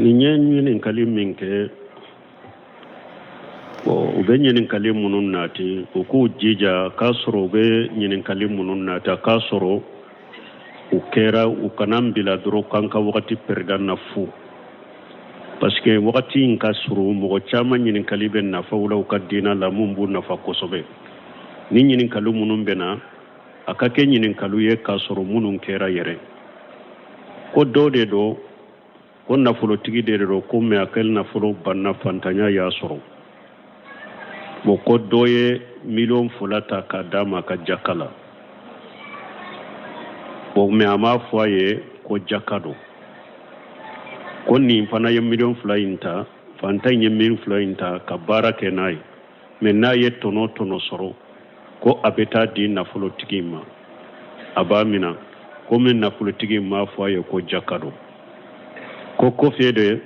nin ye ɲininkali min kɛ u bɛ ɲininkali minnu nati u k'u jija k'a sɔrɔ u bɛ ɲininkali minnu nati k'a sɔrɔ u kɛra u kana bila dɔrɔn k'an ka wagati pɛrida na fu parce que wagati in ka surun mɔgɔ caman ɲininkali bɛ nafaw la u ka diinɛ la minnu b'u nafa kosɛbɛ ni ɲininkali minnu bɛ na a ka kɛ ɲininkaliw ye k'a sɔrɔ minnu kɛra yɛrɛ ko dɔ de don ko nafolotigi de don ko mɛ a ka nafolo banna fantanya y'a sɔrɔ bon ko dɔ ye miliyɔn fila ta k'a d'a ma ka jaka la bon mɛ a m'a fɔ a ye ko jaka don ko nin fana ye miliyɔn fila in ta fantan in ye miliyɔn fila in ta ka baara kɛ n'a ye mɛ n'a ye tɔnɔ tɔnɔ sɔrɔ ko a bɛ taa di nafolotigi in ma a b'a minɛ komi nafolotigi in m'a fɔ a ye ko jaka don ko kɔfɛ de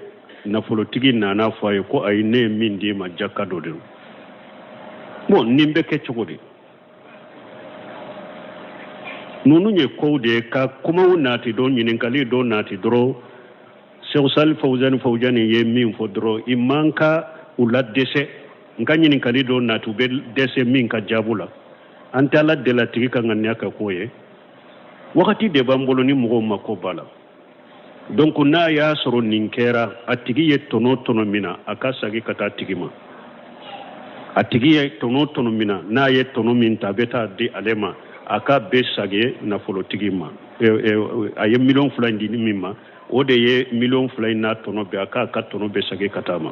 nafolotigi nana fɔ a ye ko ayi ne ye min d'i ma jaka don dɛ bon nin bɛ kɛ cogo di ninnu ye kow de ye ka kumaw nati dɔn ɲininkali dɔ nati dɔrɔn sɛku salih fawuzani fawuzani ye min fɔ dɔrɔn i man ka u ladɛsɛ n ka ɲininkali dɔ nati u bɛ dɛsɛ min ka jaabu la an tɛ ala deli a tigi ka ŋaniya kɛ k'o ye wagati de b'an bolo ni mɔgɔw mako b'a la donc n'a y'a sɔrɔ nin kɛra a tigi ye tɔnɔ tɔnɔ min na a ka sagi ka taa tigi ma a tigi ye tɔnɔ tɔnɔ min na n'a ye tɔnɔ min ta a bɛ taa di ale ma a k'a bɛɛ sagi nafolotigi ma a ye miliyɔn fila in di min ma o de ye miliyɔn fila in n'a tɔnɔ bɛɛ a k'a ka tɔnɔ bɛɛ sagi ka taa ma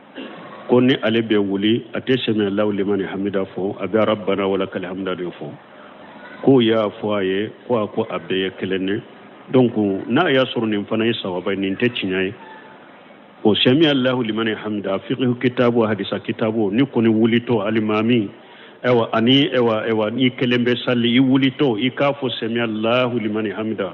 ko ni ale bɛ wuli a tɛ sɛmi allahu limani hamida fɔ a bɛ rabana wa lakal hamida de fɔ k'o y'a fɔ a ye ko a ko a bɛɛ ye kelen ne donc n'a y'a sɔrɔ nin fana ye sawaba ye nin tɛ tiɲɛ ye o sɛmi allahu limani hamida fiqhu kitabu hadisa kitabu n'i kɔni wulitɔ alimami ɛwa ani ɛwa ɛwa n'i kelen bɛ sali i wulitɔ i k'a fɔ sɛmi allahu limani hamida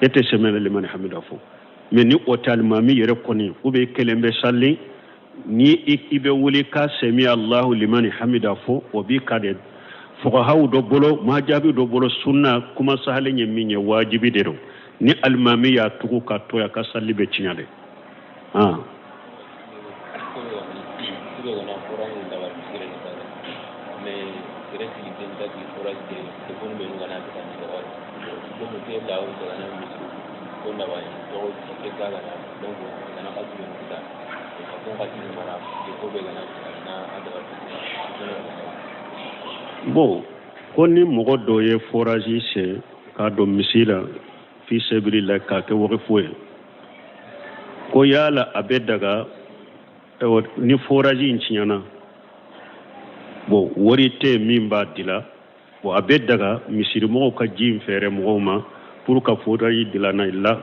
e tɛ sɛmi alahu limani hamida fɔ mɛ ni o tɛ alimami yɛrɛ kɔni ou bien i kelen bɛ sali ni i bɛ wuli ka sɛmi alahu limani hamida fɔ o b'i kan dɛ fuqahaw dɔ bolo wajibi dɔ bolo sunna kuma sahalen ye min ye wajibi de don ni alimami y'a tugu k'a to yen a ka sali bɛ tiɲɛ dɛ Bon ko ni mɔgɔ dɔ ye foraji sen k'a don misiri la fi sabilillah k'a kɛ waqfu ye ko yala a bɛ daga ni foraji in tiɲɛna bon wari tɛ min b'a dila bon a bɛ daga misirimɔgɔw ka ji in feere mɔgɔw ma pour ka foraji dilanna i la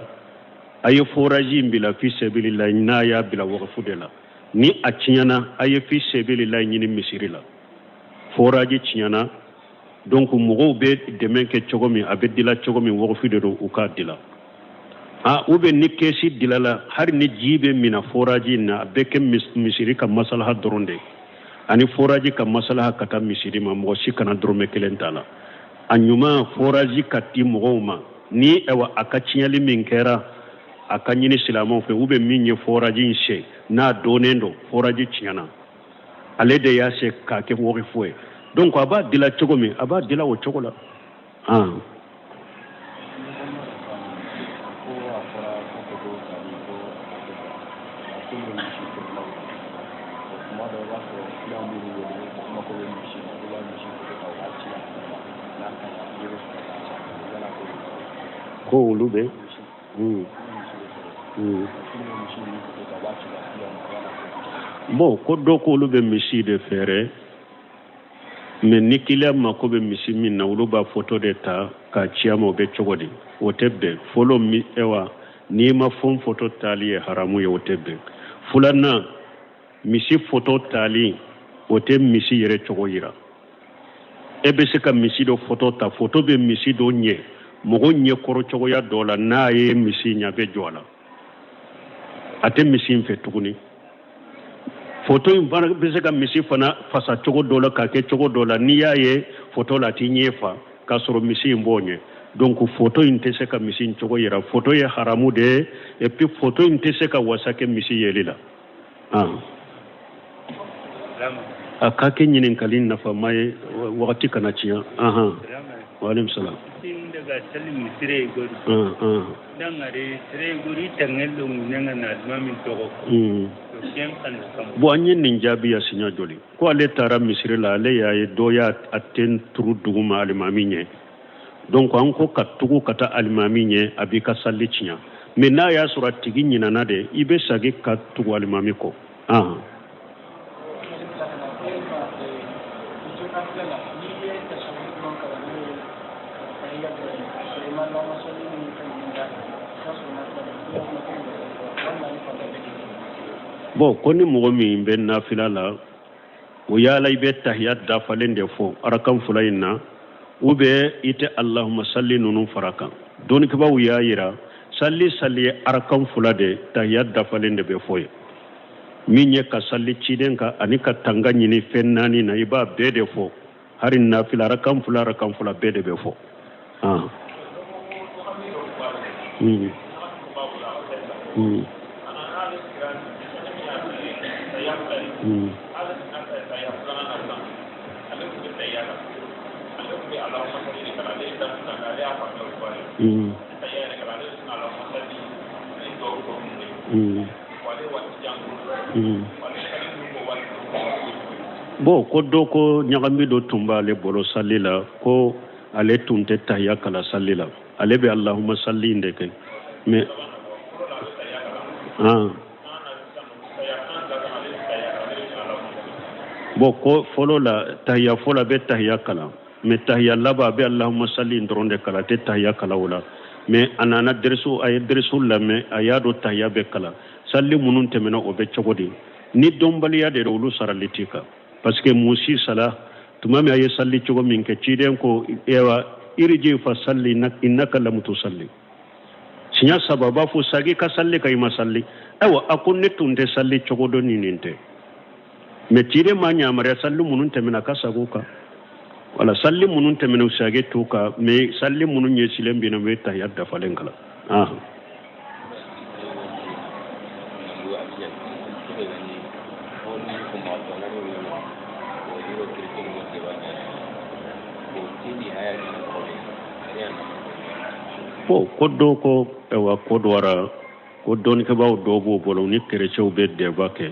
a ye foraji in bila fi sabilillah n'a y'a bila waqfu de la ni a tiɲɛna a ye fi sabilillah ɲini misiri la foraji tiɲɛna donc mɔgɔw bɛ dɛmɛ kɛ cogo min a bɛ dila cogo min waqfu de don u k'a dila a ou bien ni kɛsi dilala hali ni ji bɛ mina foraji in na a bɛ kɛ misiri ka masalaha dɔrɔn de ani foraji ka masalaha ka taa misiri ma mɔgɔ si kana dɔrɔmɛ kelen t'a la a ɲuman foraji ka di mɔgɔw ma ni ɛwa a ka tiɲɛli min kɛra a ka ɲini silamɛw fɛ ou bien min ye foraji in sen n'a dɔnnen don foraji tiɲɛna ale de y'a sen k'a kɛ waqfu ye donc a b'a dila cogo min a b'a dila o cogo la ko olu bɛ Mm. Mm. bon ko dɔ ko olu bɛ misi de feere mais ni kiliyan mako bɛ misi min na olu b'a foto de ta k'a ci a ma o bɛ cogo di o tɛ bɛn fɔlɔ ɛwa nimafɛn foto tali ye haramu ye o tɛ bɛn filanan misi foto tali o tɛ misi yɛrɛ cogo yira e bɛ se ka misi dɔ foto ta foto bɛ misi dɔ ɲɛ mɔgɔ ɲɛ kɔrɔ cogoya dɔ la n'a ye misi ɲɛ bɛ jɔ a la a tɛ misi in fɛ tuguni foto in fana bɛ se ka misi fana fasa cogo dɔ la k'a kɛ cogo dɔ la n'i y'a ye foto la a t'i ɲɛ fa k'a sɔrɔ misi in b'o ɲɛ donc foto in tɛ se ka misi in cogo yira foto ye haramu de ye et puis foto in tɛ se ka wasa kɛ misi yeli la a ka kɛ ɲininkali nafama ye wagati kana tiɲɛ anhan waaleykum salaam daga sali mu sire igori dangare sire igori tangel do mu nanga na aduma min tɔgɔ bon an ye nin jaabi yan siɲɛ joli ko ale taara misiri la ale y'a ye dɔ y'a ten turu duguma alimami ɲɛ donc an ko ka tugu ka taa alimami ɲɛ a b'i ka sali tiɲa mais n'a y'a sɔrɔ a tigi ɲinana de i bɛ sagi ka tugu alimami kɔ ahan bon ko ni mɔgɔ min bɛ nafila la o yala i bɛ tahiyat dafalen de fɔ arakan fula in na ou bien i tɛ allahumma salli ninnu fara kan dɔnnikɛbaw y'a yira sali sali ye arakan fula de tahiyat dafalen de bɛ fɔ yen min ye ka sali ciden kan ani ka tanga ɲini fɛn naani na i b'a bɛɛ de fɔ hari nafila arakan fula arakan fula bɛɛ de bɛ fɔ hmm. Hmm. Hmm. Mm. Bon ko dɔ ko ɲagami dɔ tun b'ale bolo sali la ko ale tun tɛ tahiya kala sali la ale bɛ allahumma salli in de kɛ mais bon ko fɔlɔ la tahiya fɔlɔ a bɛ tahiya kalan mais tahiya laban a bɛ allahumma salli in dɔrɔn de kala a tɛ tahiya kala o la mais a nana a ye dɛrisu lamɛn a y'a dɔn tahiya bɛ kala sali minnu tɛmɛna o bɛ cogo di ni dɔnbaliya de olu sarali t'i kan parce que musi sala tuma min a ye sali cogo min kɛ ciden ko wa iriji fa salli innaka lam tusalli siɲa saba b'a fɔ sagi ka sali ka i ma sali ayiwa a ko ne tun tɛ sali cogo dɔn ni nin tɛ mais ciden ma ɲamariya sali minnu tɛmɛna a ka sagi u kan o la sali minnu tɛmɛna sagi t'u kan mais sali minnu ɲɛsilen bɛ na u bɛ tahiya dafalen kalan bon ko dɔ ko ayiwa ko dɔra ko dɔnnikɛbaa dɔw b'o bolo ni kerecɛnw bɛ débat kɛ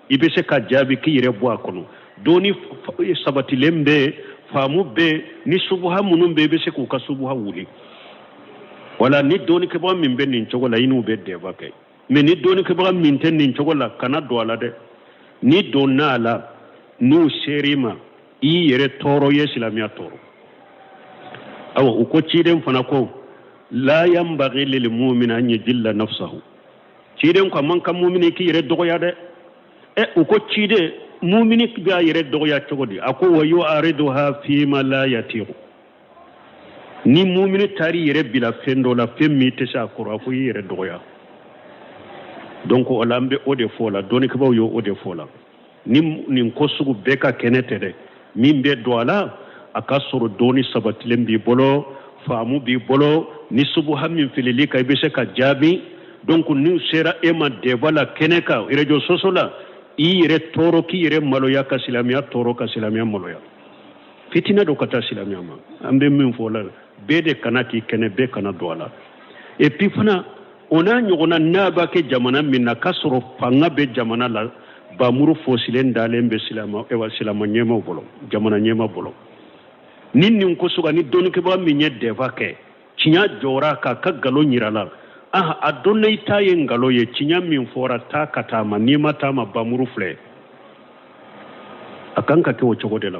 i bɛ se ka jaabi k'i yɛrɛ bɔ a kɔnɔ dɔnni sabatilen bɛ yen faamu bɛ yen ni subuha minnu bɛ yen i bɛ se k'u ka subuha wuli wala ni dɔnnikɛbaga min bɛ nin cogo la i n'u bɛ débat kɛ mais ni dɔnnikɛbaga min tɛ nin cogo la kana don a la dɛ n'i donna a la n'u ser'i ma i y'i yɛrɛ tɔɔrɔ i ye silamɛya tɔɔrɔ awa u ko ciden fana ko la yanbaghi lil mu'min an yajilla nafsahu ciden ko a man kan mumini k'i yɛrɛ dɔgɔya dɛ ɛ u ko ciden mumini b'a yɛrɛ dɔgɔya cogo di a ko wa yu'ariduha fima la yatiku ni mumini taar'i yɛrɛ bila fɛn dɔ la fɛn min tɛ se a kɔrɔ a ko i yɛrɛ dɔgɔya donc o la an bɛ o de fɔ la dɔnnikɛbaaw ye o de fɔ o la ni nin ko sugu bɛɛ ka kɛnɛ tɛ dɛ min bɛ don a la a ka sɔrɔ dɔnni sabatilen b'i bolo faamu b'i bolo ni subuha min filil'i kan i bɛ se ka jaabi donc n'u sera e ma débat la kɛnɛ kan réseaux sociaux la i yɛrɛ tɔɔrɔ k'i yɛrɛ maloya ka silamɛya tɔɔrɔ ka silamɛya maloya fitinɛ don ka taa silamɛya ma an bɛ min fɔ la bɛɛ de kana k'i kɛnɛ bɛɛ kana don a la et puis fana o n'a ɲɔgɔnna n'a b'a kɛ jamana min na k'a sɔrɔ fanga bɛ jamana la bamuru fosilen dalen bɛ silama ewa silama ɲɛmaaw bolo jamana ɲɛmaa bolo ni nin ko sugu ni dɔnnikɛbaga min ye débat kɛ tiɲa jɔra k'a ka nkalon yira a la ah a dɔnna i ta ye nkalon ye tiɲa min fɔra taa ka taa ma n'i ma taa ma bamuru filɛ a kan ka kɛ o cogo de la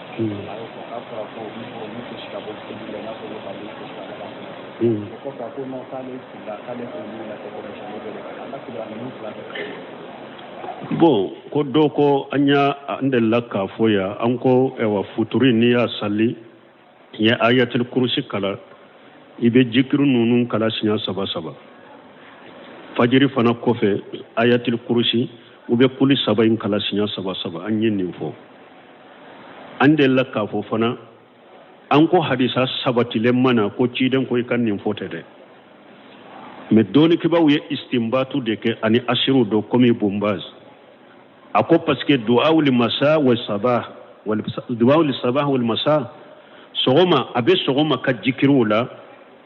Bon ko dɔw ko an y' an delila k'a fɔ yan an ko ɛwa futuri n'i y'a sali i ye ayatuli kurusi kalan i bɛ jikiri ninnu kalan siɲɛ saba saba fajiri fana kɔfɛ ayatuli kurusi u bɛ kuli saba in kalan siɲɛ saba saba an ye nin fɔ an delila k'a fɔ fana an ko hadisa sabatilen ma na ko ciden ko i ka nin fɔ tɛ dɛ mais dɔnnikɛbaaw ye istinbatu de kɛ ani asiriw dɔ komi bun Baz a ko parce que duwawu li masa wa saba duwawu li saba wal masa sɔgɔma a bɛ sɔgɔma ka jikiriw la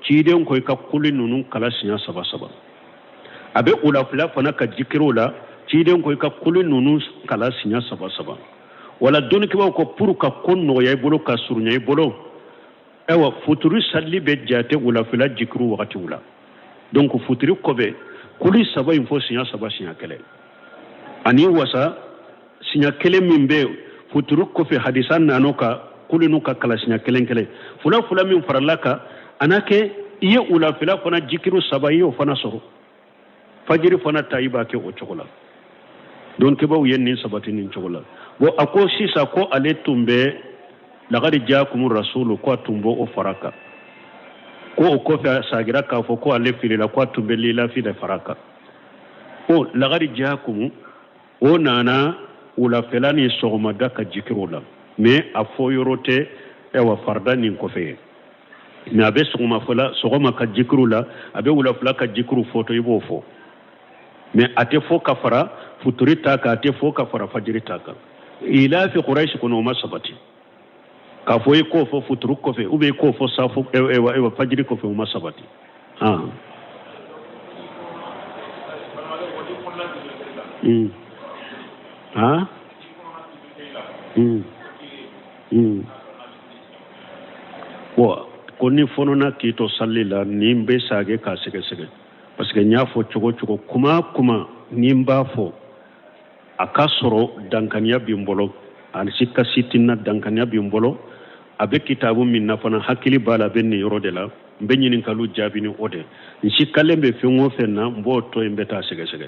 ciden ko i ka kuli ninnu kalan siɲɛ saba saba a bɛ wulafɛla fana ka jikiriw la ciden ko i ka kuli ninnu kalan siɲɛ saba saba voilà dɔnnikɛbaaw ko pour ka ko nɔgɔya i bolo ka surunya i bolo ayiwa futuri sali bɛ jate wulafɛla jikiri wagatiw la donc futuri kɔfɛ kuli saba in fɔ siɲɛ saba siɲɛ kelen a n'i wasa siɲɛ kelen min bɛ futuri kɔfɛ hadisa nana o kan kuli ninnu ka kalan siɲɛ kelen kelen fula fula min farala a kan a na kɛ i ye wulafɛla fana jikiri saba i y'o fana sɔrɔ fajiri fana ta i b'a kɛ o cogo la dɔnnikɛbaaw ye nin sabati nin cogo la bon a ko sisan ko ale tun bɛ lagari jaakumu rasulu ko a tun b'o o fara a kan ko o kɔfɛ a sagira k'a fɔ ko ale filila ko a tun bɛ lilafi de fara a kan ko lagari jaakumu o nana wulafɛla ni sɔgɔmada ka jikiriw la mais a fɔ yɔrɔ tɛ ɛwa farida nin kɔfɛ ye mɛ a bɛ sɔgɔmafɛla sɔgɔma ka jikiru la a bɛ wulafɛla ka jikiru fɔtɔ i b'o fɔ mɛ a tɛ fɔ ka fara futuri ta kan a tɛ fɔ ka fara fajiri ta kan ilafi kurayisi kɔnɔ o ma sabati k'a fɔ i k'o fɔ futuru kɔfɛ ou bien i k'o fɔ safo fajiri kɔfɛ o ma sabati Mm. Huh? Mm. Hmm. ko n'i fɔɔnɔna k'i to sali la nin n bɛ sagin k'a sɛgɛsɛgɛ parce que n y'a fɔ cogo cogo kuma kuma ni n b'a fɔ a ka sɔrɔ dankaniya bɛ n bolo ani sika si tɛ n na dankaniya bɛ n bolo a bɛ kitabu min na fana hakili b'a la a bɛ nin yɔrɔ de la n bɛ ɲininkaliw jaabi ni o de n sikalen bɛ fɛn o fɛn na n b'o to yen n bɛ taa sɛgɛsɛgɛ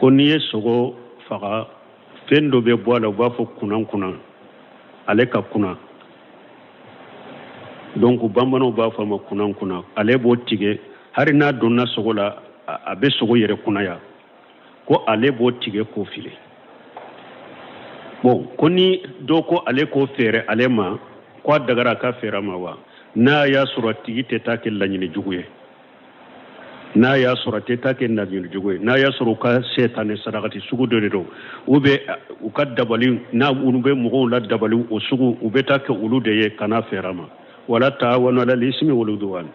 ko n'i ye sogo faga fɛn dɔ bɛ bɔ a la u b'a fɔ kunankunan ale ka kunan donc bamananw b'a fɔ a ma kunankunan ale b'o tigɛ hari n'a donna sogo la a bɛ sogo yɛrɛ kunaya ko ale b'o tigɛ k'o fili bon ko ni dɔ ko ale k'o feere ale ma ko a dagara a k'a feere a ma wa n'a y'a sɔrɔ a tigi tɛ taa kɛ laɲini jugu ye n'a y'a sɔrɔ a tɛ taa kɛ laɲini jugu ye n'a y'a sɔrɔ u ka setani sarakati sugu dɔ de don u bɛ u ka dabali n'a olu bɛ mɔgɔw la dabali o sugu u bɛ taa kɛ olu de ye kana a feere a ma wala ta'awanu alal ismi wal udwan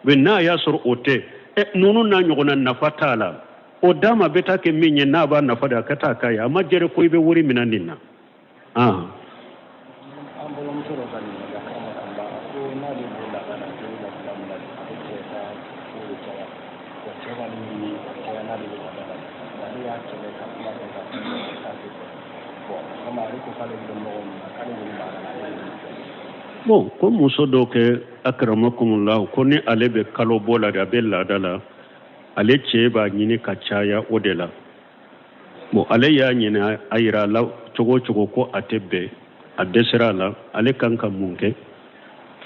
mɛ n'a y'a sɔrɔ o tɛ ɛ ninnu n'a ɲɔgɔnna nafa t'a la o d'a ma bɛ taa kɛ min ye n'a b'a nafa de a ka taa k'a ye a ma jɛrɛ ko i bɛ wari minɛ nin na Bon ko muso dɔ kɛ akramakumullah ko ni ale bɛ kalo bɔ la a bɛ laada la ale cɛ b'a ɲini ka caya o de la bon ale y'a ɲɛyira a la cogo o cogo ko a tɛ bɛn a dɛsɛra a la ale kan ka mun kɛ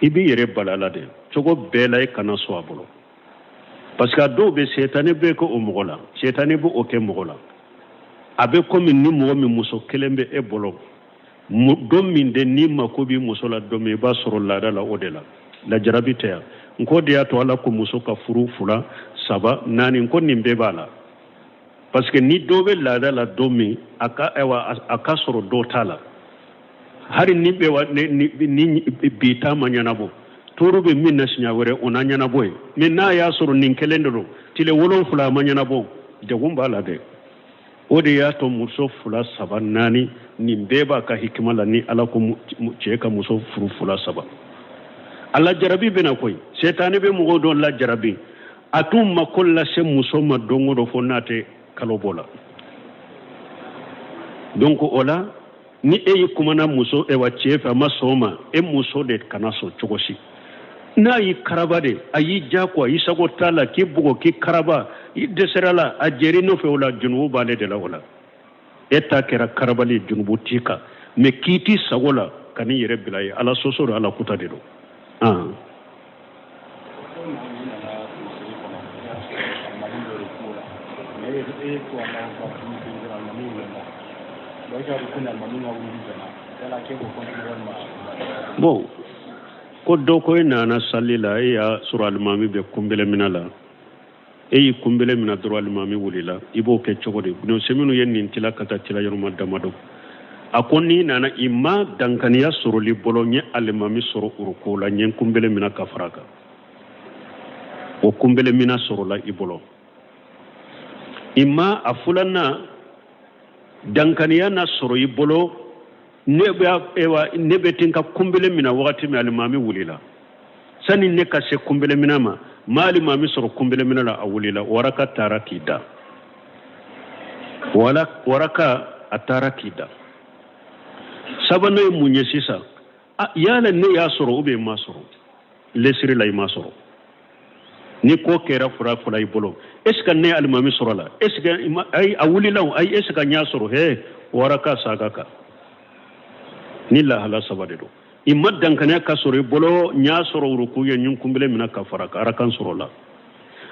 i b'i yɛrɛ bali a la dɛ cogo bɛɛ la i kana sɔn a bolo parce que a dɔw bɛ setani bɛ kɛ o mɔgɔ la setani bɛ o kɛ mɔgɔ la a bɛ komi ni mɔgɔ min muso kelen bɛ e bolo don min de n'i mako b'i muso la don min i b'a sɔrɔ laada la o de la lajarabi tɛ yan n k'o de y'a to ala ko muso ka furu fila saba naani ko nin bɛɛ b'a la parce que ni dɔ bɛ laada la don min a ka ayiwa a ka sɔrɔ dɔ t'a la hali ni bɛ wa ni ni bi ta ma ɲɛnabɔ tɔɔrɔ bɛ min na siɲɛ wɛrɛ o na ɲɛnabɔ ye mais n'a y'a sɔrɔ nin kelen de don tile wolonfila a ma ɲɛnabɔ degun b'a la dɛ o de y'a to muso fila saba naani nin bɛɛ b'a ka hikima la ni ala ko cɛ ka muso furu fila saba a lajarabi bɛna koyi setani bɛ mɔgɔw dɔ lajarabi a t'u mako lase muso ma don o don fo n'a tɛ kalo bɔ la donc o la ni e y'i kumana muso ewa cɛ fɛ a ma sɔn o ma e muso de kana sɔn cogo si n'a y'i karaba de a y'i jagoya i sago t'a la k'i bugɔ k'i karaba i dɛsɛr'a la a jɛr'i nɔfɛ o la junubu b'ale de la o la e ta kɛra karabali ye junubu t'i kan mais k'i t'i sago la ka n'i yɛrɛ bila ye ala sɔsɔ don ala kuta de don bon ko dɔ ko e nana sali la e y'a sɔrɔ alimami bɛ kunbelemina la e y'i kunbele mina dɔrɔn alimami wulila i b'o kɛ cogo di minnu ye nin tila ka taa tila yɔrɔma damadɔ a ko n'i nana i ma dankaniya sɔrɔl'i bolo n ye alimami sɔrɔ uruko la n ye kunbele mina ka fara kan o kunbele mina sɔrɔla i bolo i ma a fulanan dankaniya na sɔrɔ i bolo ne bɛ ten ka kunbele mina wagati min alimami wulila sani ne ka se kunbelemina ma n ma alimami sɔrɔ kunbelemina la a wulila o araka taara k'i da o araka a taara k'i da sabanan ye mun ye sisan yala ne y'a sɔrɔ ou bien n m'a sɔrɔ lesiri la i m'a sɔrɔ ni ko kɛra fula fula i bolo est ce que n ye alimami sɔrɔ la est ce que ayi a wulila o ayi est ce que n y'a sɔrɔ hee o araka saga ka nin lahala saba de don i ma dankanaya ka sɔrɔ i bolo n y'a sɔrɔ uruku ye n ye n kunbele mina ka fara kan araka sɔrɔla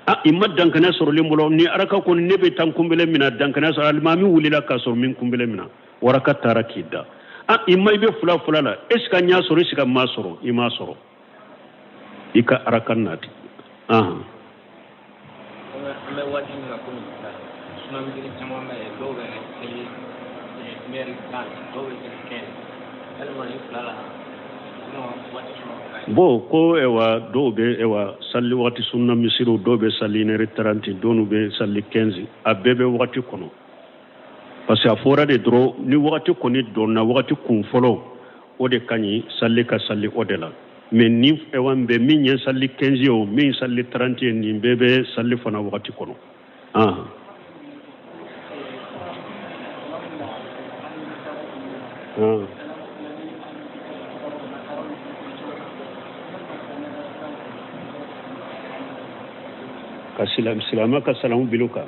a i ma dankanaya sɔrɔl'i bolo nin araka kɔni ne bɛ taa kunbele mina dankanaya sɔrɔ alimami wulila ka sɔrɔ n ma n kunbele mina o araka taara k'i da a i ma i bɛ fula fula la est ce que n y'a sɔrɔ est ce que n m'a sɔrɔ i m'a sɔrɔ i ka araka nati ahan an bɛ waati min na komi sisan sunna misiri caman bɛ yen dɔw bɛ kɛ lɛri tan dɔw bɛ kɛ kɛ walima ni fila la bon ko ewa dɔw bɛ ewa sali waati sunna misiriw dɔw bɛ sali nɛri taranti dɔw bɛ sali kɛnzi a bɛɛ bɛ waati kɔnɔ parce que a fɔra de dɔrɔn ni wagati kɔni donna wagati kun fɔlɔ o de ka ɲi salli ka salli o de la mais ni ɛwa min bɛ min ye salli 15 ye o min salli 30 ye nin bɛɛ bɛ salli fana wagati kɔnɔ ah. Ah. ka silamɛ ka salamu bil'u kan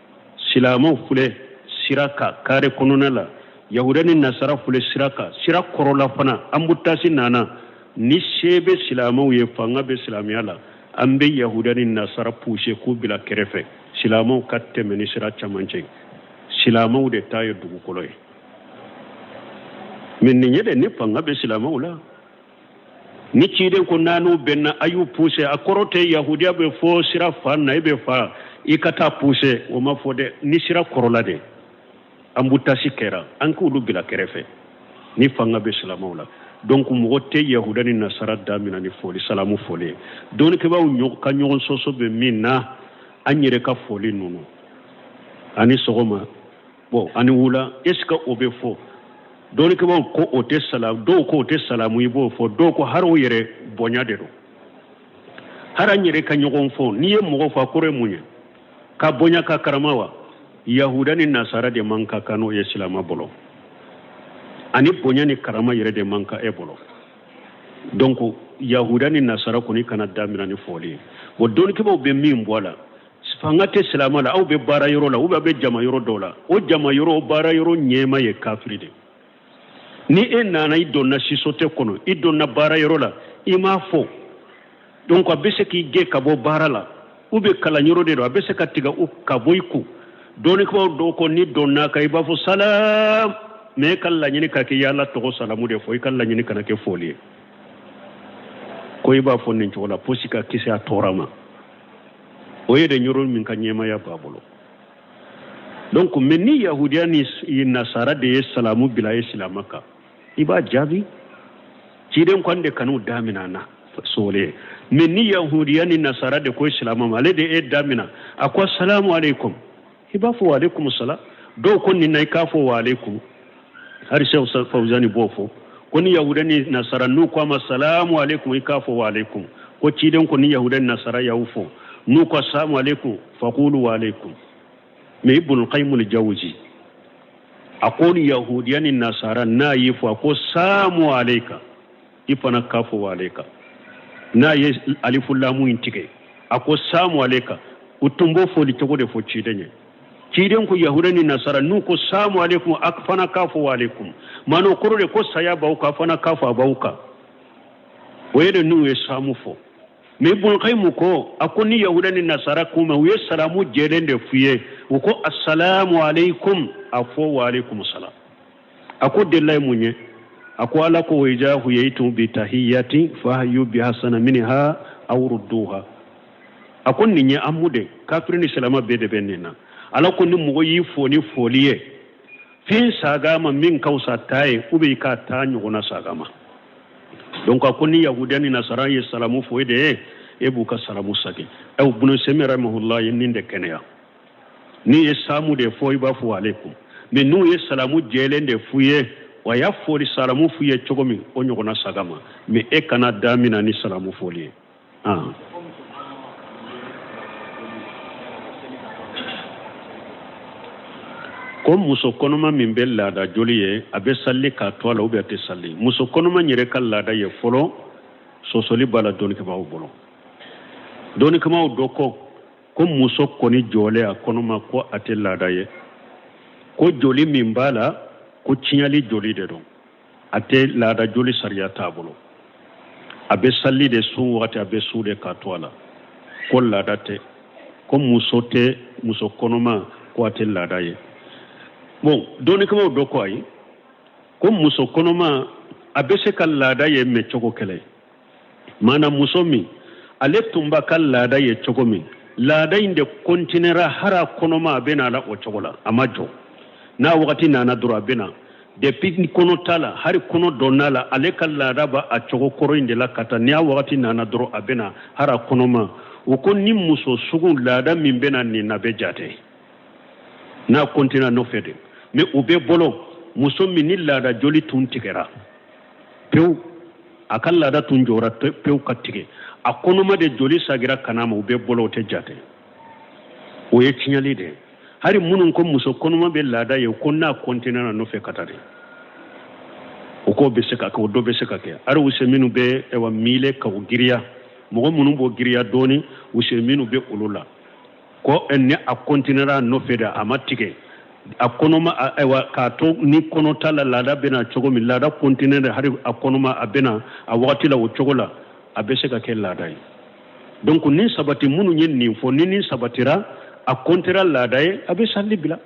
silamɛw filɛ sira kan kare kɔnɔna la yahuda ni nasara filɛ sira kan sira kɔrɔla fana embouteillage nana ni se bɛ silamɛw ye fanga bɛ silamɛya la an bɛ yahuda ni nasara puse k'u bila kɛrɛfɛ silamɛw ka tɛmɛ ni sira camancɛ silamɛw de ta ye dugukolo ye mais nin ye de ni fanga bɛ silamɛw la ni ciden ko n'a n'u bɛnna a y'u puse a kɔrɔ tɛ yahudiya bɛ fo sira fan na i bɛ fa i ka taa puse o ma fɔ dɛ ni sira kɔrɔla de embouteillage kɛra an k'olu bila kɛrɛfɛ ni fanga bɛ silamaw la donc mɔgɔ tɛ yahuda ni nasara damina ni foli salamu foli ye dɔnnikɛbaaw ka ɲɔgɔn sɔsɔ bɛ min na an yɛrɛ ka foli ninnu ani sɔgɔma bon ani wula est ce que o bɛ fɔ dɔnnikɛbaaw ko o tɛ sala dɔw ko o tɛ salamu i b'o fɔ dɔw ko har'o yɛrɛ bonya de don har'an yɛrɛ ka ɲɔgɔn fo n'i ye mɔgɔ fo a kɔrɔ ye mun ye k'a bonya k'a karama wa yahuda ni nasara de man ka kan n'o ye silama bolo ani bonya ni karama yɛrɛ de man kan e bolo donc yahuda ni nasara kɔni kana damina ni foli ye bon dɔnnikɛbaaw bɛ min bɔ a la fanga tɛ silamɛ la aw bɛ baara yɔrɔ la ou bien aw bɛ jama yɔrɔ dɔw la o jama yɔrɔ baara yɔrɔ ɲɛmaa ye kafiri de ni e nana i donna société kɔnɔ i donna baara yɔrɔ la i m'a fo donc a bɛ se k'i gɛn ka bɔ baara la ou bien kalanyɔrɔ de don a bɛ se ka tigɛ u ka bɔ i kun dɔnnikɛbaaw dɔw ko n'i donn'a kan i b'a fɔ salam mais e ka laɲini ka kɛ i y'Ala tɔgɔ salamu de fɔ i ka laɲini kana kɛ foli ye ko i b'a fɔ nin cogo la posi ka kisi a tɔɔrɔ ma o ye de ni yɔrɔ min ka ɲɛmaaya b'a bolo donc mais ni yahudiya ni nasara de ye salamu bila e silama kan i b'a jaabi ciden ko an de kan'u damina na sogole mais ni yahudiya ni nasara de ko silama ma ale de e damina a ko assalamu aleykum i b'a fɔ wa aleykum salam dɔw ko nin na i k'a fɔ wa aleykum hari sheikh fawuzani b'o fɔ ko ni yahuda ni nasara n'u ko a ma salamu aleykum i k'a fɔ wa aleykum ko ciden ko ni yahuda ni nasara y'aw fo n'u ko salamu aleykum fakulu wa aleykum mais ibunul kayimu li jawuziya ko ni yahudiya ni nasara n'a y'i fo a ko saamu aleyka i fana k'a fɔ wa aleyka n'a ye alifu lamu in tigɛ a ko samu aleyka u tun b'o foli cogo de fɔ ciden ye ciden ko yahuda ni nasara n'u ko samu aleykum a fana k'a fɔ wa aleykum maana o kɔrɔ de ko saya b'aw kan a fana k'a fɔ a b'aw kan o ye de n'u ye samu fɔ mais Ibun Kayimu ko a ko ni yahuda ni nasara kuma u ye salamu jɛlen de f'u ye u ko asalamu aleykum a fɔ wa aleykum salam a ko dalilu ye mun ye a ko ala ko wa ija huyitum bi tahiyatin fahayu bi hasana minha aw rudduha a ko nin ye aamu de kafiri ni silama bɛɛ de bɛ nin na ala ko ni mɔgɔ y'i fo ni foli ye fɛn sag'a ma min ka fisa ta ye ou bien i k'a ta ɲɔgɔnna sag'a ma donc a ko ni yahudiya ni nasara ye salamu fɔ e de ye e b'u ka salamu sagi awa bunu Usemin rahimahullah ye nin de kɛnɛya N'i ye samu de fɔ i b'a fɔ aleykum mais n'u ye salamu jɛlen de f'u ye wa y'a foli salamu f'u ye cogo min o ɲɔgɔnna sag'a ma mais e kana damina ni salamu foli ye ko muso kɔnɔma min bɛ laada joli ye a bɛ sali k'a to a la ou bien a tɛ sali muso kɔnɔma yɛrɛ ka laada ye fɔlɔ sɔsɔli b'a la dɔnnikɛbaaw bolo dɔnnikɛbaaw dɔ ko ko muso kɔni jɔlen a kɔnɔma ko a tɛ laada ye ko joli min b'a la ko tiɲɛli joli de don a tɛ laada joli sariya t'a bolo a bɛ sali de sun wagati a bɛ sun de k'a to a la ko laada tɛ ko muso tɛ muso kɔnɔma ko a tɛ laada ye bon dɔnnikɛbaaw dɔ ko ayi ko muso kɔnɔma a bɛ se ka laada ye mais cogo kelen maana muso min ale tun b'a ka laada ye cogo min laada in de kɔntinera hali a kɔnɔma a bɛ na a la o cogo la a ma jɔ n'a wagati nana dɔrɔn a bɛ na depuis kɔnɔ t'a la hali kɔnɔ dɔnn'a la ale ka laada b'a cogo kɔrɔ in de la ka taa ni a wagati nana dɔrɔn a bɛ na hali a kɔnɔma u ko nin muso sugu laada min bɛ na nin na bɛ jate n'a kɔntina nɔfɛ de mais u bɛɛ bolo muso min ni laada joli tun tigɛra pewu a ka laada tun jɔra pewu ka tigɛ a kɔnɔma de joli sagira ka n'a ma u bɛɛ bolo o tɛ jate o ye tiɲɛli de ye hari minnu ko muso kɔnɔma bɛ laada ye ko n'a kɔntinena nɔfɛ ka taa de o ko bɛ se ka kɛ o dɔ bɛ se ka kɛ hari Useminu bɛ ɛwa miile ka o giriya mɔgɔ minnu b'o giriya dɔɔni Useminu bɛ olu la ko ni a kɔntinera nɔfɛ de a ma tigɛ a kɔnɔma ayiwa k'a to ni kɔnɔ t'a la laada bɛ na cogo min laada kɔntinera hali a kɔnɔma a bɛ na a waati la o cogo la a bɛ se ka kɛ laada ye donc nin sabati minnu ye nin fɔ ni nin sabatira a kɔntinera laada ye a bɛ sali bila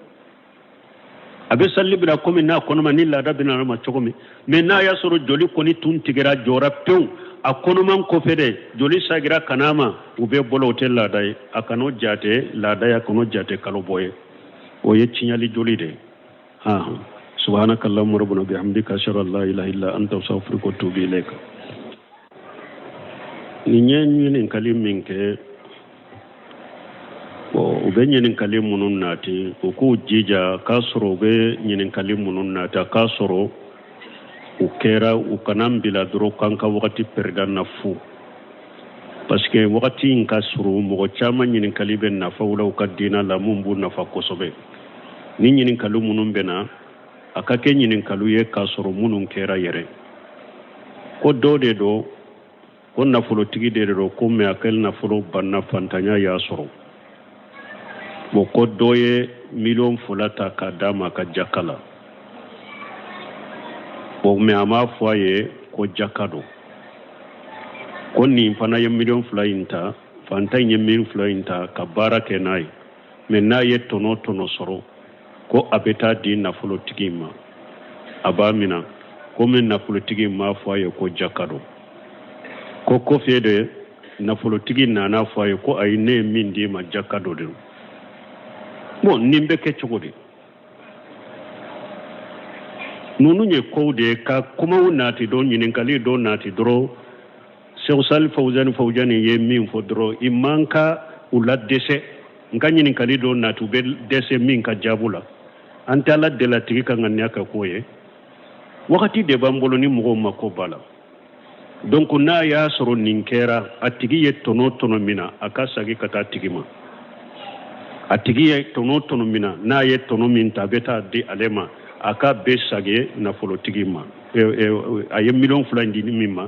a bɛ sali bila komi n'a kɔnɔma ni laada bɛ na a ma cogo min mɛ n'a y'a sɔrɔ joli kɔni tun tigɛra jɔra pewu a kɔnɔman kɔfɛ de joli sagira ka na a ma u bɛɛ bolo o tɛ laada ye a kan'o jate laada ye a kan'o jate kalo bɔ ye o ye tiɲɛli joli de hɔn subhanaka allahumma rabbana bihamdika ashhadu an la ilaha illa anta astaghfiruka wa atubu ilayka nin ye ɲininkali min kɛ u bɛ ɲininkali minnu nati u k'u jija k'a sɔrɔ u bɛ ɲininkali minnu nati k'a sɔrɔ u kɛra u kan'an bila dɔrɔn k'an ka wagati pɛrɛdi an na fu parce que wagati in ka surun mɔgɔ caman ɲininkali bɛ nafa u la u ka diinɛ la minnu b'u nafa kosɛbɛ ni ɲininkaliw minnu bɛ na a ka kɛ ɲininkaliw ye k'a sɔrɔ minnu kɛra yɛrɛ ko dɔ de don ko nafolotigi de don ko mɛ a ka nafolo banna fatanya y'a sɔrɔ bon ko dɔ ye miliyɔn fila ta k'a d'a ma ka jaka la bon mɛ a m'a fɔ a ye ko jaka don ko nin fana ye miliyɔn fila in ta fantan in ye miliyɔn fila in ta ka baara kɛ n'a ye mɛ n'a ye tɔnɔ tɔnɔ sɔrɔ ko a bɛ taa di nafolotigi ma a b'a minɛ komi nafolotigi m'a fɔ a ye ko jaka don ko kɔfɛ de nafolotigi nana fɔ a ye ko ayi ne ye min d'i ma jaka don dɛ bon nin bɛ kɛ cogo di ninnu ye kow de ye ka kumaw nati dɔ ɲininkali dɔ nati dɔrɔn Seku Sali Fawuzani Fawuzani ye min fɔ dɔrɔn i man ka u la dɛsɛ nka ɲininkali dɔ nati u bɛ dɛsɛ min ka jaabu la an tɛ Ala deli a tigi ka ŋaniya ka k'o ye wagati de b'an bolo ni mɔgɔw mako b'a la donc n'a y'a sɔrɔ nin kɛra a tigi ye tɔnɔ tɔnɔ minɛ a ka sagi ka taa tigi ma a tigi ye tɔnɔ tɔnɔ minɛ n'a ye tɔnɔ min ta a bɛ taa di ale ma a k'a bɛɛ sagi nafolotigi ma a ye miliyɔn fila in di min ma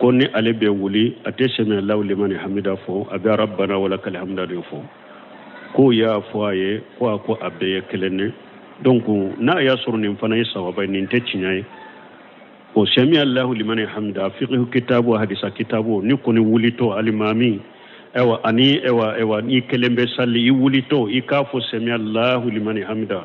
ko ni ale bɛ wuli a tɛ sɛmi allahu limani hamida fɔ a bɛ rabbana wa lakal hamdu de fɔ k'o y'a fɔ a ye ko a ko a bɛɛ ye kelen ne donc n'a y'a sɔrɔ nin fana ye sawaba ye nin tɛ tiɲɛ ye bon sɛmi allahu limani hamida fiqhu kitabu hadisa kitabu n'i kɔni wulitɔ alimami ɛwa ani ɛwa ɛwa n'i kelen bɛ sali i wulitɔ i k'a fɔ sɛmi allahu limani hamida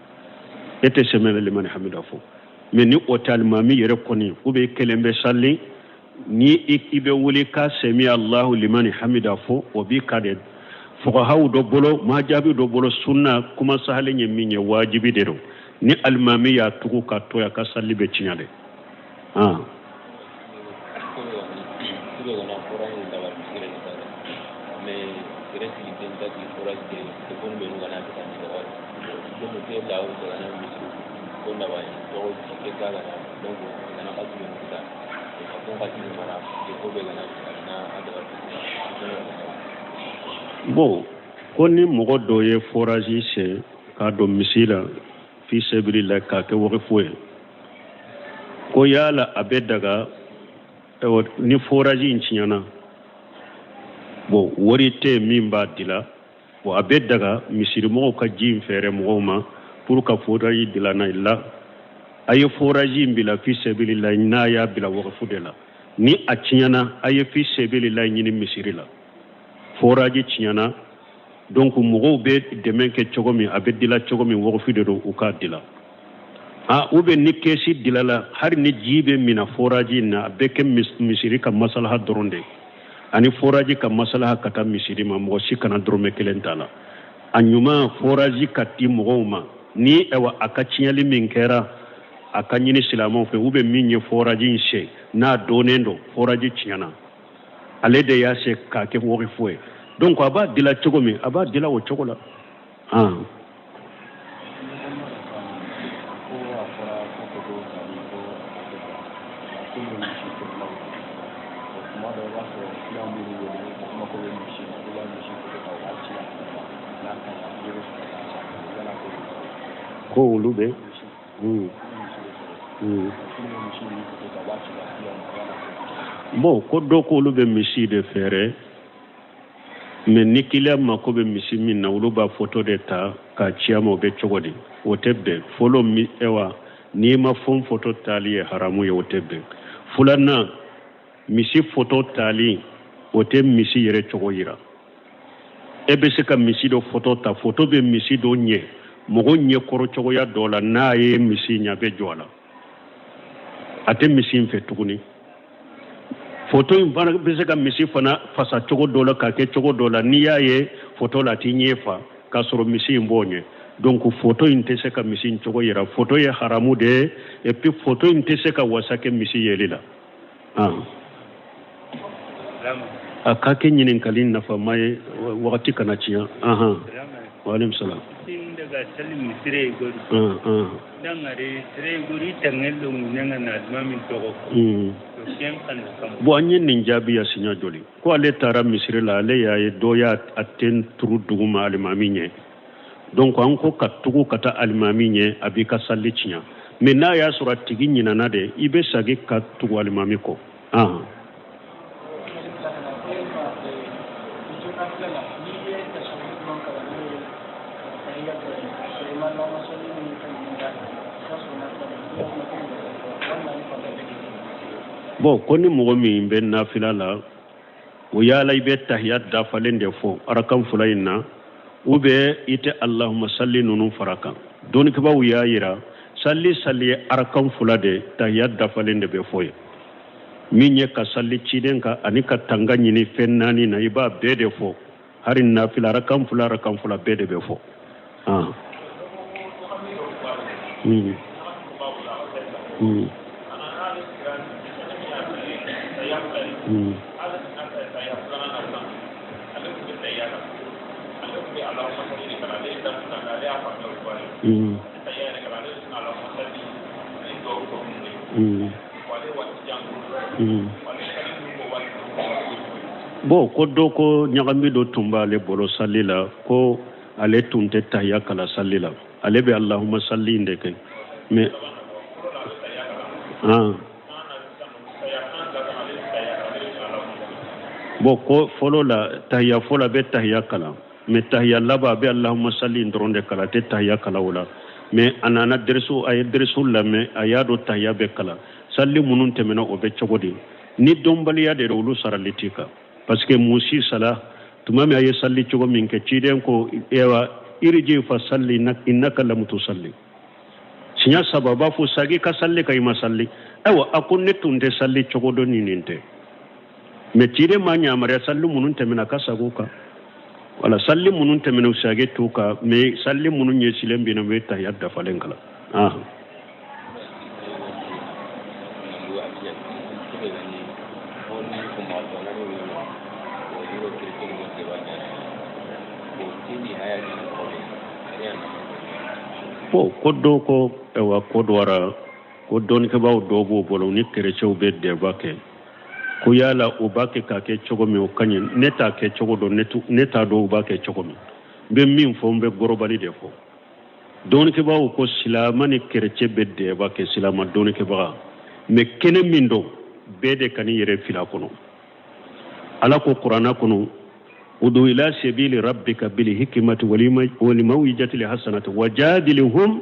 e tɛ sɛmi alahu limani hamida fɔ mɛ ni o tɛ alimami yɛrɛ kɔni ou bien i kelen bɛ sali ni i bɛ wuli ka sɛmi alahu limani hamida fɔ o b'i kan dɛ fuqahaw dɔ bolo wajibi dɔ bolo sunna kuma sahalen ye min ye wajibi de don ni alimami y'a tugu k'a to a ka sali bɛ tiɲɛ dɛ Bon ko ni mɔgɔ dɔ ye furaji sen k'a don misiri la fi sabilila k'a kɛ wakifu ye ko yala a bɛ daga ni foraji in tiɲɛna bon wari tɛ min b'a dila bon a bɛ daga misirimɔgɔw ka ji in fɛɛrɛ mɔgɔw ma pour ka foraji dilanna i la a ye foraji in bila fi sabilila n'a y'a bila wakifu de la ni a tiɲɛna a ye fi sabilila ɲini misiri la foraji tiɲɛna donc mɔgɔw bɛ dɛmɛ kɛ cogo min a bɛ dila cogo min wakifu de don u k'a dila ou bien ni kɛsi dilala hali ni ji bɛ minɛ foraji in na a bɛ kɛ misiri ka masalaha dɔrɔn de ani foraji ka masalaha ka taa misiri ma mɔgɔ si kana dɔrɔmɛ kelen t'a la a ɲuman foraji ka di mɔgɔw ma ni ɛwa a ka tiɲɛli min kɛra a ka ɲini silamɛw fɛ ou bien min ye foraji in sen n'a dɔnnen don foraji tiɲɛna ale de y'a sen k'a kɛ wakifu ye donc a b'a dila cogo min a b'a dila o cogo la an ko olu bɛ Mm. Mm. bon ko dɔ ko olu bɛ misi de fɛɛrɛ mais ni kiliyan mako bɛ misi min na olu b'a foto de ta k'a ci a ma o bɛ cogo di o tɛ bɛn fɔlɔ mi ɛwa nimafɛn foto taali ye haramu ye o tɛ bɛn filanan misi foto taali o tɛ misi yɛrɛ cogo yira e bɛ se ka misi dɔ foto ta foto bɛ misi dɔ ɲɛ mɔgɔ ɲɛ kɔrɔ cogoya dɔ la n'a ye misi ye a bɛ jɔn a la a tɛ misi in fɛ tuguni foto in fana bɛ se ka misi fana fasa cogo dɔ la k'a kɛ cogo dɔ la n'i y'a ye foto la a t'i ɲɛ fa k'a sɔrɔ misi in b'o ɲɛ donc foto in tɛ se ka misi in cogo yira foto ye haramu de ye et puis foto in tɛ se ka wasa kɛ misi yeli la a ka kɛ ɲininkali nafama ye wagati kana tiɲɛ anhan waaleykum salaam daga sali mu sire igori dangare sire igori tangel do mu nanga na aduma min tɔgɔ bon an ye nin jaabi ya siɲɛ joli ko ale taara misiri la ale y'a ye dɔ y'a a ten turu duguma alimami ɲɛ donc an ko ka tugu ka taa alimami ɲɛ a b'i ka sali tiɲa mɛ n'a y'a sɔrɔ a tigi ɲinana de i bɛ sagi ka tugu alimami kɔ ahan bɔn ko ni mɔgɔ min bɛ nafila la o yala i bɛ tahiya dafalen de fɔ arakan fula in na ou bien i tɛ alahuma sali ninnu fara kan dɔnnikɛbaw y'a yira sali sali ye arakan fula de tahiya dafalen de bɛ fɔ ye min ye ka sali ciden kan ani ka tanga ɲini fɛn naani na i b'a bɛɛ de fɔ hari nafila arakan fula arakan fula bɛɛ de bɛ fɔ hmm. Hmm. Hmm. Mm. Bon ko dɔ ko ɲagami dɔ tun b'ale bolo sali la ko ale tun tɛ tahiya kalan sali la ale bɛ alahuma sali in de kɛ mɛ bɔn ko fɔlɔ la tahiya fɔlɔ a bɛ tahiya kalan mɛ tahiya laban a bɛ alahuma sali in dɔrɔn de kalan a tɛ tahiya kalan o la mɛ a nana a ye dɛrisu lamɛn a y'a dɔn tahiya bɛ kalan sali minnu tɛmɛna o bɛ cogo di ni dɔnbaliya de olu sarali t'i kan parce que musi sala tuma min a ye sali cogo min kɛ ciden ko wa iriji fa sali innaka lamu tusali siɲɛ saba b'a fɔ sagi ka sali ka i ma sali ayiwa a ko ne tun tɛ sali cogo dɔn ni nin tɛ mɛ ciden m'a yamaruya sali minnu tɛmɛna a ka sagi u kan wala sali minnu tɛmɛna u sagi t'u kan mɛ sali minnu ɲɛsilen bɛ na u bɛ tahiya dafalen kalan bɔn ko dɔ ko ewa ko dɔ wɛrɛ ko dɔnnikɛbaa dɔw b'o bolo ni kerecɛnw bɛ débat kɛ ko yala u b'a kɛ k'a kɛ cogo min o ka ɲi ne t'a kɛ cogo dɔn ne t'a dɔn u b'a kɛ cogo min n bɛ min fɔ n bɛ global de fɔ dɔnnikɛbagaw ko silama ni kerecɛn bɛ débat kɛ silama dɔnnikɛbaga mɛ kɛnɛ min don bɛɛ de ka ni yɛrɛ fila kɔnɔ ala ko kuranna kɔnɔ udu ila sabili rabika bili hikimati walimawijati li hasanati wajadilihum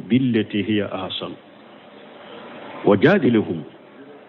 billeti hiya ahasanu wajadilihum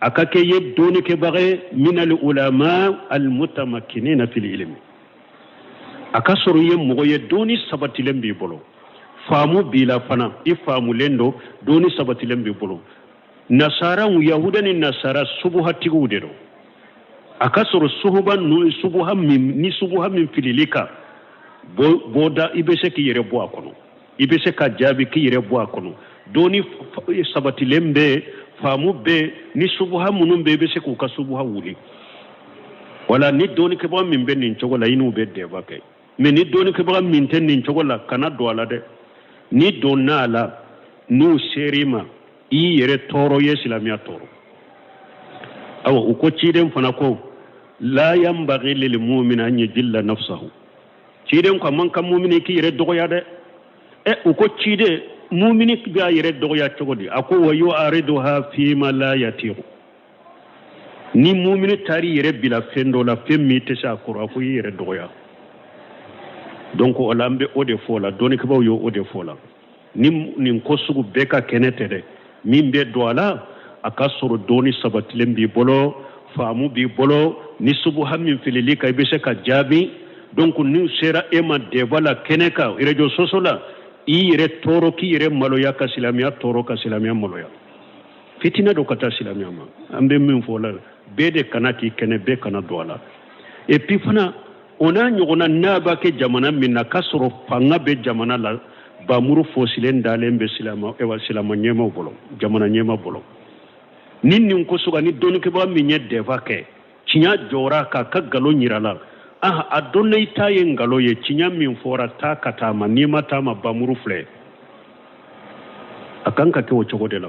a ka kɛ i ye dɔnnikɛbaga ye min al ulama al mutamakkinina fil ilmi a ka sɔrɔ i ye mɔgɔ ye dɔnni sabatilen b'i bolo faamu b'i la fana i faamulen don dɔnni sabatilen b'i bolo nasara yahuda ni nasara subuhatigiw de don a ka sɔrɔ suhuba ninnu subuha min ni subuha min filil'i kan bɔda i bɛ se k'i yɛrɛ bɔ a kɔnɔ i bɛ se k'a jaabi k'i yɛrɛ bɔ a kɔnɔ dɔnni sabatilen bɛ yen faamu bɛ yen ni subuha minnu bɛ yen i bɛ se k'u ka subuha wuli wala ni dɔnnikɛbaga min bɛ nin cogo la i n'u bɛ débat kɛ mais ni dɔnnikɛbaga min tɛ nin cogo la kana don a la dɛ n'i donn'a la n'u ser'i ma i y'i yɛrɛ tɔɔrɔ i ye silamɛya tɔɔrɔ awa u ko ciden fana ko la yanbaghi lil mu'min an yajilla nafsahu ciden ko a man kan mumini k'i yɛrɛ dɔgɔya dɛ ɛ u ko ciden mumini b'a yɛrɛ dɔgɔya cogo di a ko wa yu'arriduha fima la yatiqu ni mumini taar'i yɛrɛ bila fɛn dɔ la fɛn min i tɛ se a kɔrɔ a ko i yɛrɛ dɔgɔya donc o la an bɛ o de fɔ la dɔnnikɛbaaw ye o de fɔ la ni nin ko sugu bɛɛ ka kɛnɛ tɛ dɛ min bɛ don a la a ka sɔrɔ dɔnni sabatilen b'i bolo faamu b'i bolo ni subuha min filil'i kan i bɛ se k'a jaabi donc n'u sera e ma débat la kɛnɛ kan réseaux sociaux la i yɛrɛ tɔɔrɔ k'i yɛrɛ maloya ka silamɛya tɔɔrɔ ka silamɛya maloya fitinɛ don ka taa silamɛya ma an bɛ min fɔ la bɛɛ de kana k'i kɛnɛ bɛɛ kana don a la et puis fana o n'a ɲɔgɔnna n'a b'a kɛ jamana min na k'a sɔrɔ fanga bɛ jamana la bamuru fosilen dalen bɛ silama ewa silama ɲɛmaaw bolo jamana ɲɛmaa bolo ni nin ko sugu ni dɔnnikɛbaga min ye débat kɛ tiɲa jɔra k'a ka nkalon yir'a la ah a dɔnna i ta ye nkalon ye tiɲa min fɔra taa ka taa a ma n'i ma taa a ma bamuru filɛ a kan ka kɛ o cogo de la